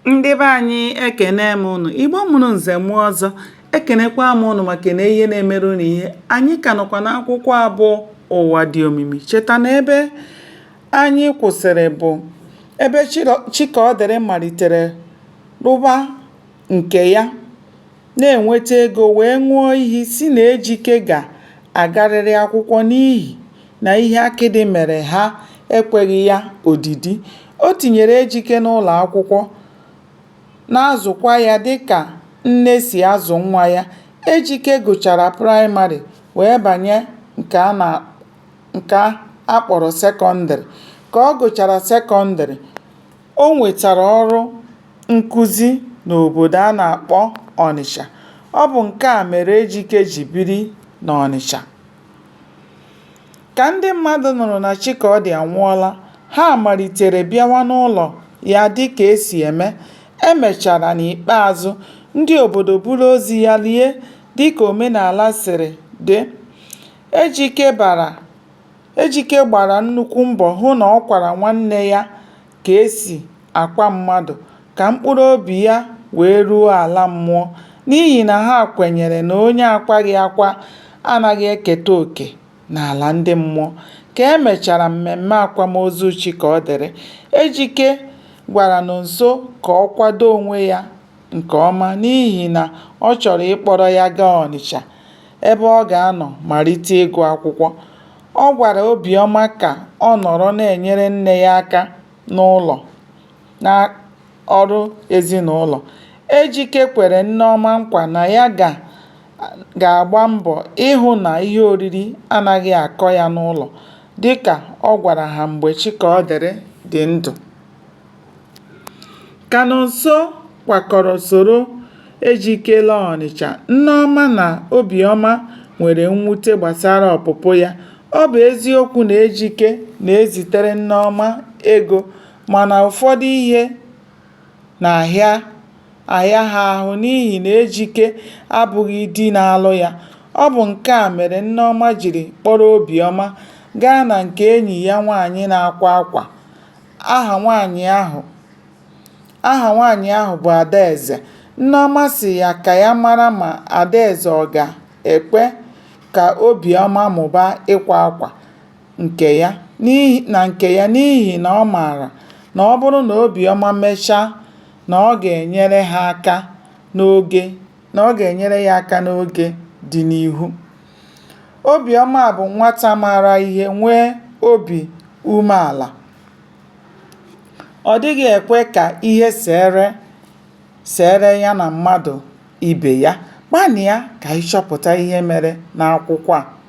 ndị be anyị ekene m ụnụ igbo mụrụ nze mụọ ọzọ ekenekwa m ụnụ maka na ihe na-emere ụnụ ihe anyị ka nọkwa n'akwụkwọ a bụ ụwa dị omimi cheta na ebe anyị kwụsịrị bụ ebe chikaọdịrị malitere rụba nke ya na-enweta ego wee ṅụọ iyi sị na Ejike ga-agarịrị akwụkwọ n'ihi na ihe akịdị mere ha ekweghị ya odidi. O tinyere Ejike n'ụlọakwụkwọ na-azụkwa ya dịka nne si azụ nwa ya. Ejike gụchara praịmarị wee banye nke a kpọrọ sekọndịrị. Ka ọ gụchara sekọndịrị, O nwetara ọrụ nkuzi n'obodo a na-akpọ Ọnịcha. Ọ bụ nke a mere Ejike ji biri n'Ọnịcha. Ka ndị mmadụ nụrụ na Chikaọdị anwụọla, ha malitere bịawa n'ụlọ ya dịka e si eme. E mechara n'ikpeazụ, ndị obodo buru ozu ya lie dịka omenala siri dị. Ejike bara Ejike gbara nnukwu mbọ hụ na ọ kwara nwanne ya ka e si akwa mmadụ ka mkpụrụ obi ya wee ruo ala mmụọ n'ihi na ha kwenyere na onye a kwaghị akwa anaghị eketa oke n'ala ndị mmụọ. Ka e mechara mmemme akwamozu Chikaọdịrị, Ejike gwara Nonso ka ọ kwado onwe ya nke ọma n'ihi na ọ chọrọ ịkpọrọ ya gaa Ọnịcha ebe ọ ga-anọ malite ịgụ akwụkwọ. Ọ gwara Obiọma ka ọ nọrọ na-enyere nne ya aka n'ụlọ na ọrụ ezinụlọ. Ejike kwere Nneọma nkwa na ya ga-agba mbọ ịhụ na ihe oriri anaghị akọ ya n'ụlọ dịka ọ gwara ha mgbe Chikaọdịrị dị ndụ. Ka Nonso kwakọrọ soro Ejike laa Ọnịcha, Nneọma na Obiọma nwere mwute gbasara ọpụpụ ya. Ọ bụ eziokwu na Ejike na-ezitere Nneọma ego mana ụfọdụ ihe na-ahịa ahịa ha ahụ n'ihi na Ejike abụghị di na-alụ ya. Ọ bụ nke a mere Nneọma jiri kpọrọ Obiọma gaa na nke enyi ya nwaanyị na-akwa akwa. Aha nwaanyị ahụ Aha nwaanyị ahụ bụ Adaeze. Nneọma sị ya ka ya mara ma Adaeze ọ ga-ekwe ka Obiọma mụba ịkwa akwa nke ya na nke ya n'ihi na ọ maara na ọ bụrụ na Obiọma mechaa na ọ ga-enyere ya aka n'oge dị n'ihu. Obiọma bụ nwata maara ihe, nwee obi umeala. Ọ dịghị ekwe ka ihe seere ya na mmadụ ibe ya. Gbalịa ka ị chọpụta ihe mere n'akwụkwọ a.